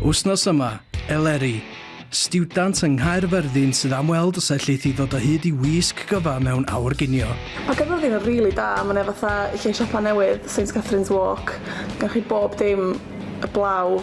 Wsnos yma, Eleri, stiwdant yng Nghaerfyrddin sydd am weld os elleith i ddod o hyd i wisg gyfa mewn awr ginio. Mae gyda fi'n rili really da, mae'n efo fatha lle siopa newydd, St Catherine's Walk, gan chi bob dim y blaw.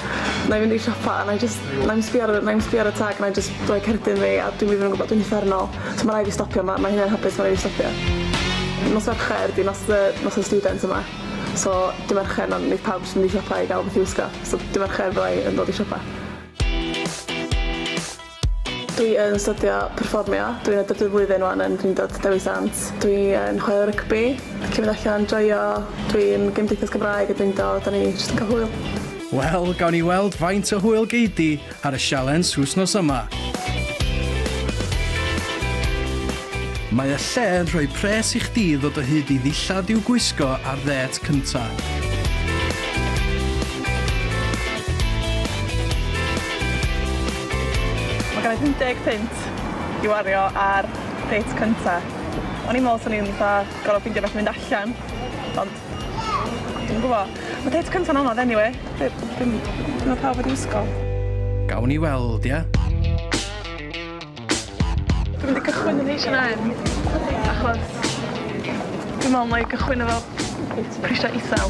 'na i fynd i siopa a 'na i jyst 'na i'm sbio ar y 'na i'm sbio ar y tag 'na i jyst rhoi cerdyn fi a dwi'm even yn gwbo dwi'n uffernol so ma' rai' fi stopio 'ma ma' hynna'n hapus ma' rai' fi stopio. Nos Fercher 'di nos y nos y student yma so dy' Mercher na neith pawb jyst mynd i siopa i ga'l wbath i wisgo so dy' Mercher fyddai yn dod i siopa. Dwi yn studio perfformio, dwi'n y drydydd flwyddyn wan yn Drindod Dewi Sant. Dwi yn chwarae rygbi, licio mynd allan, joio, dwi'n Gymdeithas Cymraeg y Drindod, o'n i jyst yn cael hwyl. Wel, gawn ni weld faint o hwyl gei di ar y sialens wsnos yma. Mae y lle yn rhoi pres i chdi ddod o hyd i ddillad i'w gwisgo ar ddêt cynta. Mae gen i 50 punt i wario ar date cynta. O'n i'n me'wl swn i'n fatha gor'o' ffeindio wbath i fynd allan ond dwi'm yn gwbo. Ma' date cynta'n anodd eniwe. Dwi dwi'm dwi me'wl pawb wedi wisgo. Gawn ni weld ia? Dwi mynd i gychwyn yn Heitch and I'm achos dwi me'wl 'nai gychwyn efo prisia isel.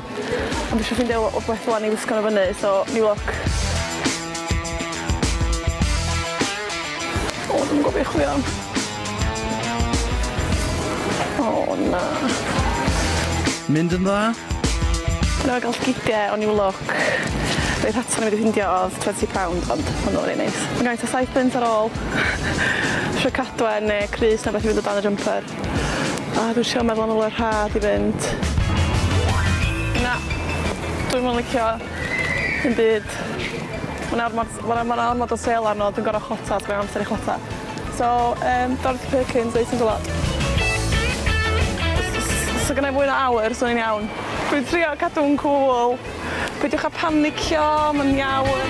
Ond dwi isio ffindio wbeth ŵan i wisgo nhw fyny so new look. O dwi'm yn gwbo be' i chwilio am. O na. Mynd yn dda? Dwi newydd ga'l gige o new look. Rei rhatio o'n i wedi ffindio odd twenty pound ond ma' nw rei neis. Ma' gymaint o side pins ar ôl. Isio cadwen ne' crys ne' wbath i fynd o dan y jumper. A dwi isio meddwl am y le rhad i fynd. Na. Dwi'm yn licio dim byd. Ma' 'na ormod ma' 'na ma' 'na ormod o sêl arno dwi'n gor'o' chwota os mae'n amser i chwota. So yym Dorothy Perkins Eight O's a Lot. Os o's os o' gynnai fwy na awr swn i'n iawn. Dwi'n trio cadw'n cŵl. Peidiwch â panicio, mae'n iawn.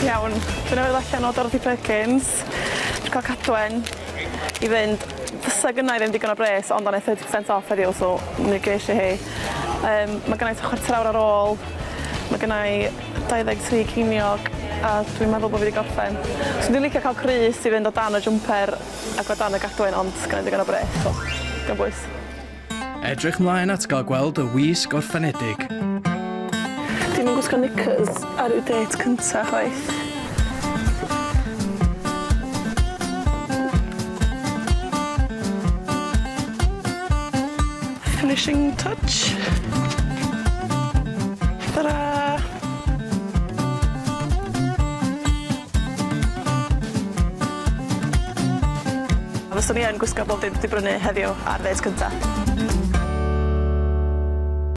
Iawn, dyna fe allan o Dorothy Perkins. Dwi cael Cadwen i fynd. Fysa gynna i ddim digon o bres ond o' 'na thirty percent off heddiw so mi gesh i hi. Yym ma' gynna i t'a chwarter awr ar ôl. Ma' gynna i dau ddeg tri ceiniog a dwi'n meddwl bo' fi 'di gorffen. Swn i'n licio ca'l crys i fynd o dan y jwmper. Ac o dan y gadwyn ond gynna i ddigon o bres so dim bwys. Edrych mlaen at gael gweld y wisg orffenedig. Dim yn gwisgo knickers ar yw date cynta chwaith. Finishing touch. Ta-ra! Fyswn i yn gwisgo bob dim dwi brynu heddiw ar ddêt cynta.